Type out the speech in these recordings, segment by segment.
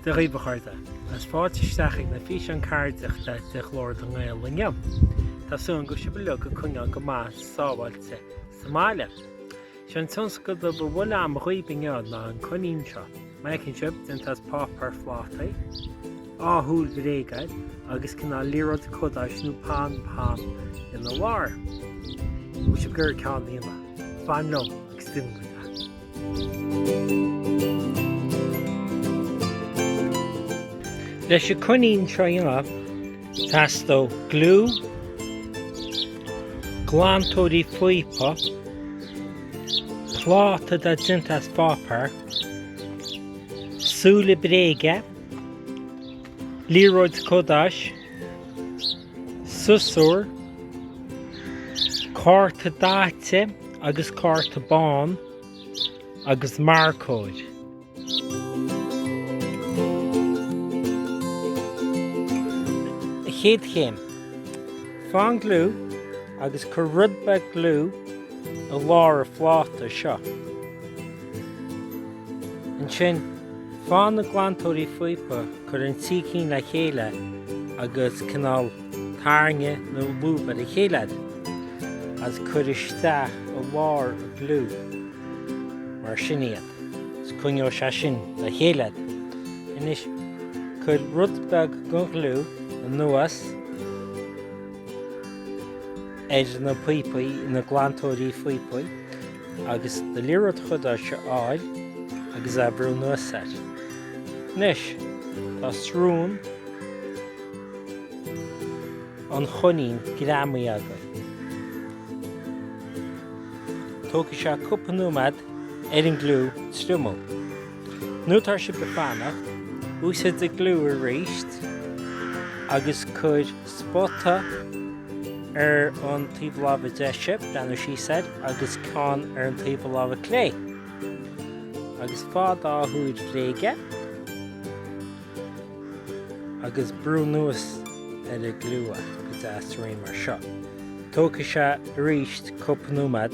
Dia dhaoibh a chairde, is fáilte isteach ag na físeáin ceardaíochta de Ghlór na nGael inniu. Tá súil a'm go bhfuil sibh uilig ag coinneáil go maith sábháilte sa mbaile. Sé an tionscadal beag a bhfuil a'm dhaoibh inniu ná an coinín seo. Mar a fheiceann sibh, déanta as páipéar phlátaí, dhá shúil bhréige air, agus cineál liathróid cadáis nó pom pom ina lár. Bhfuil sibh ag iarraidh ceann a dhéanamh? Fan liom agus déanfaidh mé leat. Leis an coinín seo a dhéanamh, Teastóidh gliú, glantóirí píopa, pláta atá déanta as páipéar, súile bréige, liathróid cadáis, siosúr, cárta daite agus cárta bán agus marcóir. An chéad chéim. Faigh an gliú agus cuir rud beag gliú i lár an phláta seo. Ansin, faigh na glantóirí píopa, cuir an trí cinn le chéile agus cineál tarraing nó lúb ar a chéile iad, agus cuir isteach i lár an ghliú mar sin iad. 's coinneoidh sé sin le chéile iad. Anois, cuir rud beag den ghliú anuas ar na píopaí, na glantóirí píopaí, agus do liathróid chadáis a fháil agus é a bhrú anuas air. Anois, tá srón an choinín greamaithe againn. Tógfaidh sé cúpla nóiméad ar an ngliú triomú. Nuair atá sibh ag fanacht, úsáid do ghliú aríst agus cuir spota ar an taobh láimhe deise, breathnú síos air, agus ceann ar an taobh láimhe clé. Agus faigh an dá shúil bhréige agus brúigh anuas ar an ngliú iad go deas réidh mar seo. Tógfaidh sé aríst cúpla nóiméad.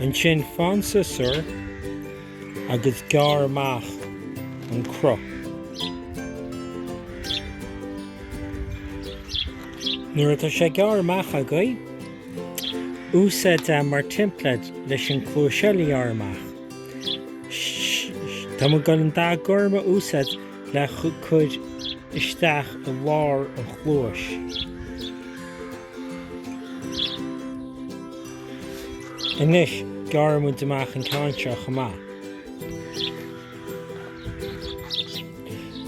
Ansin faigh an siosúr agus gearr amach an cruth. Nuair atá sé gearrtha amach agaibh, úsáid é mar teimpléad leis an cluais eile a ghearradh amach. Tá muid ag goil an dá gorma a úsáid le cur isteach i lár an chluais. Anois, gearrfaidh muid amach an ceann seo chomh maith.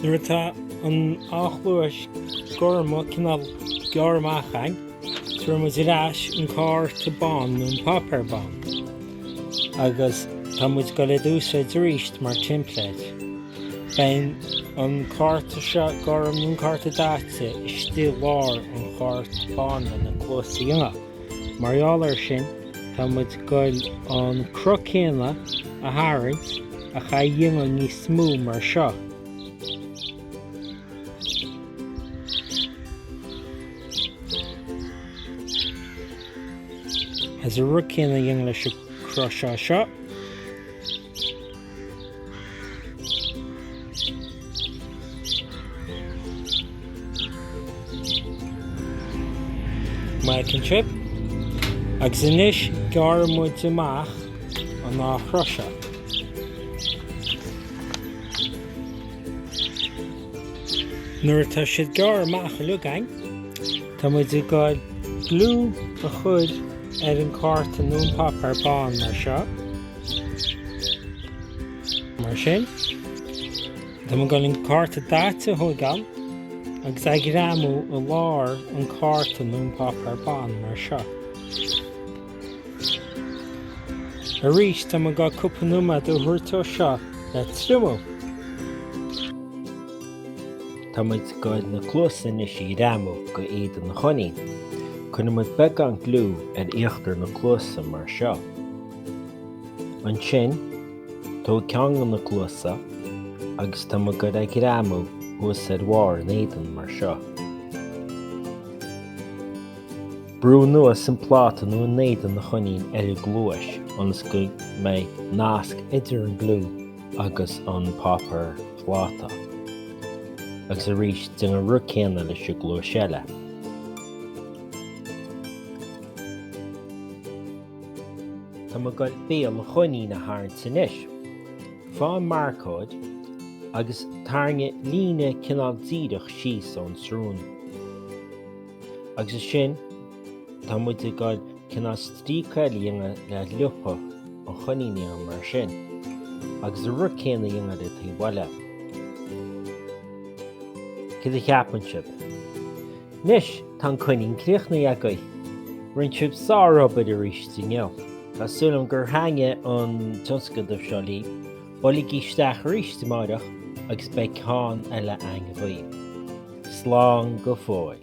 Nuair atá an dá chluais gorma cineál gearrtha amach againn, tabharfaidh muid ar ais an cárta bán nó an páipéar bán agus tá muid ag goil é a úsáid arís mar teimpléad. Beidh an cárta seo gorm nó an cárta daite istigh i lár an chárt bán lena cluasa dhéanamh. Mar gheall air sin, tá muid ag dul an cruth céanna a tharraingt ach é a dhéanamh níos mó mar seo. Agus an rud céanna a dhéanamh leis an cruth seo. Maith sibh agus anois gearrfaidh muid amach an dá chruth seo. Nuair atá siad gearrtha amach uilig againn tá muid ag gabhail gliú a chur ar an cárta nó an páipéar bán mar seo. Mar sin, tá muid ag goil an cárta daite a thóigeáil agus é a ghreamú i lár an cárta nó an páipéar bán mar seo. Arís, tá muid ag goil cúpla nóiméad a thabhairt dó seo le triomú. Tá muid ag goil na cluasa anois a ghreamú go éadan an choinín. Cuirfidh muid beagán gliú ar íochtar na cluasa mar seo. Ansin, tóg ceann de na cluasa agus tá muid ag goil é a ghreamú thuas ar bharr an éadan mar seo. Brú anuas an pláta nó an éadan an choinín ar an gcluais ionas go mbeidh nasc idir an gliú agus an páipéar pláta. Agus arís, déan an rud céanna leis an gcluais eile. Tá muid ag goil béal an choinín a tharraingt anois. Faigh an marcóir agus tarraingígí líne cineál díreach síos ón tsrón. Agus ansin tá muid ag goil cineál stríoc a dhéanamh le liopa an choinín a dhéanamh mar sin, agus an rud céanna a dhéanamh ar an taobh eile. Céard a cheapann sibh? Anois tá an coinín críochnaithe agaibh. Rinne sibh sárobair arís inniu. Tá súil agam gur thaitin an tionscadamh seo libh. Buailigí isteach arís amáireach agus beidh ceann eile againn. Slán go fóill.